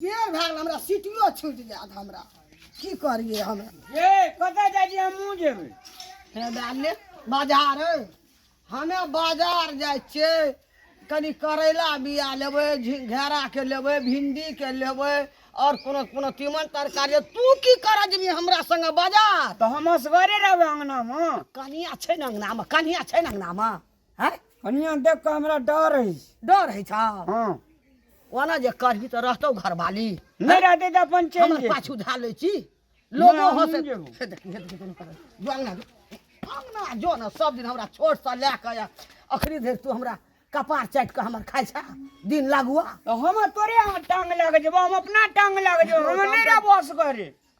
देर भए गेल हमरा सीटियो छूटि जायत हमरा की करियै हम ए कतऽ जाइ छी हमहूँ जेबै हे डाले बाजार हमे बाजार जाइ छियै कनी करैला बिया लेबै झि- घेराके लेबै भिंडीके लेबै आओर कोनो कोनो तीमन तरकारी तू की करऽ जेबही हमरा संगे बाजार तऽ हम असगरे रहबै अङ्गनामे कनिया छै ने अङ्गनामे कनिया छै ने अङ्गनामे हैं कनिया देख के हमरा डर है डर है छा हां ओना जे करही त रहतौ घरवाली नहीं रहते तो अपन चल हमर पाछू धा ले छी लोगो हंसे से देखी हे देखी कर जो अंगना अंगना जो ना सब दिन हमरा छोट सा ले के अखरी धरि तू हमरा कपार चाट के हमर खाइ छा दिन लागुआ तो हम तोरे टांग लग जेबो हम अपना टांग लग जेबो हम नहीं रह बस करे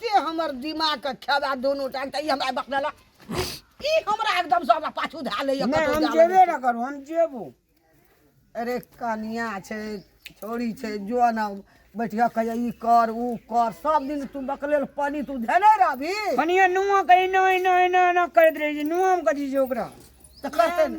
ते हमर दिमाग के खेबा दोनों टाइम त ई हमरा बकनला ई हमरा एकदम से हमरा पाछू धा लैया नहि हम जेबे ना करू हम जेबू अरे कनिया छै छोड़ी छै जो ना बैठिया कहिया ई कर ऊ कर सब दिन तू बकलेल पानी तू धेने रहबी कनिया नुआ कहीं ना ना ना ना करत रही नुआ हम कथी जे ओकरा त करते ने।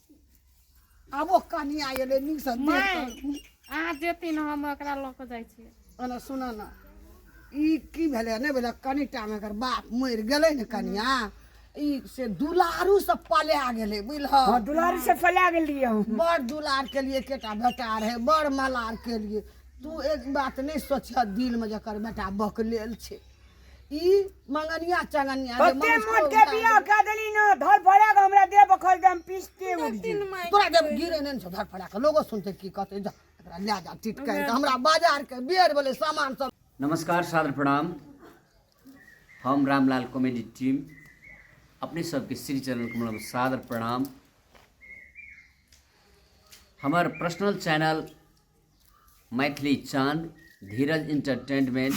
आबो कनिया एलै नीकसँ देख माय कऽ। अहाँ जेती ने हम एकरा लऽ कऽ जाइ छियै ओना सुन ने ई की भेलै नहि भेलै कनि टाइम एकर बाप मरि गेलै ने कनिया ई से दुलारू से पला गेलै बुझलह हँ दुलारी से फैला गेलियै हम बड़ दुलार के लिए केटा बेटा रहे बड़ मलार के लिए तू एक बात नहीं सोचह दिल में जकर बेटा बकलेल छे ई मंगनिया चंगनिया जे ओते मनुष्य मोट के उतार बियाह देलक। कऽ देली ना धर भड़क हमरा देह बखल दम पीसते उड़ जी तोरा जब गिरे ने धर फड़ा के लोगो सुनते की कहते जा एकरा ले जा टिट कर के हमरा बाजार के बेर बोले सामान सब नमस्कार सादर प्रणाम हम रामलाल कॉमेडी टीम अपने सबके श्री चैनल को मतलब सादर प्रणाम हमार पर्सनल चैनल मैथिली चांद धीरज इंटरटेनमेंट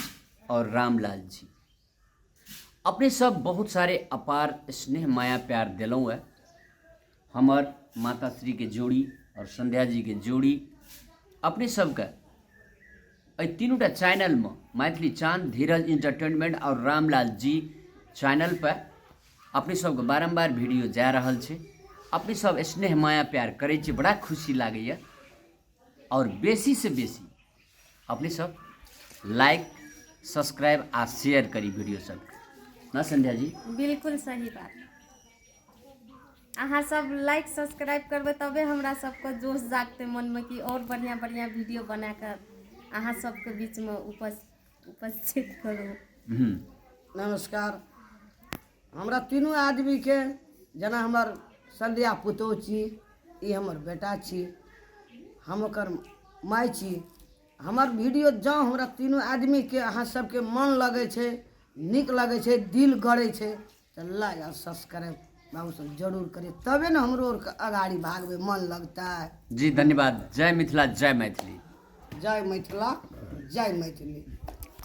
और रामलाल जी अपने सब बहुत सारे अपार स्नेह माया प्यार दिलों है हमार माता श्री के जोड़ी और संध्या जी के जोड़ी अपने सबके एहि तीनूटा चैनलमे मैथिली चांद धीरज इंटरटेनमेंट और रामलाल जी चैनल पर अपने सबके बारम्बार वीडियो जा रहल छै अपने सब स्नेह माया प्यार करै छी बड़ा खुशी लागैए और बेसी से बेसी अपने सब लाइक सब्सक्राइब आ शेयर करी वीडियो सब ना संध्या जी बिल्कुल सही बात अहाँ सब लाइक सब्सक्राइब करबै तबे हमरा सबके जोश जागतै मनमे कि आओर बढ़िआँ बढ़िआँ वीडियो बना कऽ अहाँ सबके बीचमे उपस्थित करू नमस्कार हमरा तीनू आदमीके जेना हमर संध्या पुतोह छी ई हमर बेटा छी हम ओकर माय छी हमर वीडियो जँ हमरा तीनू आदमीके अहाँ सबके मन लगै छै नीक लगै छै दिल गड़ै छै तऽ लाइक आओर सब्सक्राइब बाबूसभ जरूर करियै तबे ने हमरो आरके अगाड़ी भागबै मन लगतै जी धन्यवाद जय मिथिला जय मैथिली जय मिथिला जय मैथिली